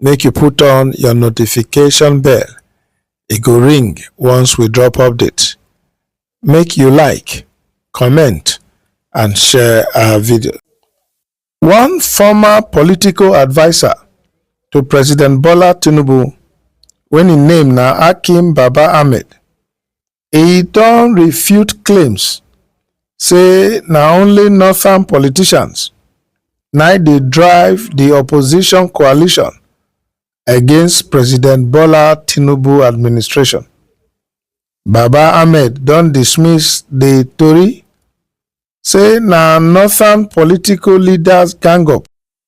make you put on your notification bell. E go ring once we drop update. Make you like, comment and share our video. One former political adviser to President Bola Tinubu when im name na Akim Baba Ahmed e don refute claims say na only northern politicians na dey drive di opposition coalition against president bola tinubu administration baba ahmed don dismiss di tori say na northern political leaders gang up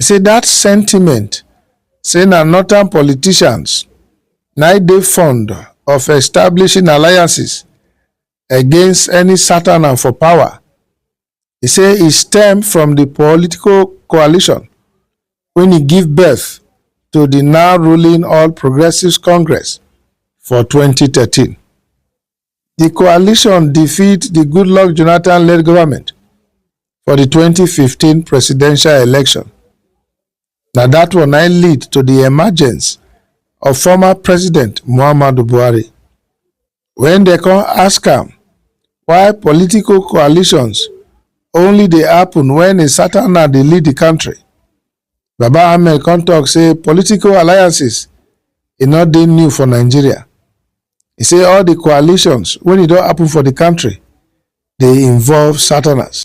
e say dat sentiment say na northern politicians na im dey fond of establishing alliances against any Satana for power. E say e stem from di political coalition wey e give birth to di now ruling All Progressives Congress for twenty thirteen. di coalition defeat di goodluck jonathan-led goment for di 2015 presidential election na dat one na lead to di emergence of former president muhammadu buhari wen dem come ask am why political coalitions only dey happen wen a satan na dey lead di kontri Baba Ahmed come talk say political alliances e no dey new for Nigeria. He say all the coalitions when e don happen for the country dey involve Southerners.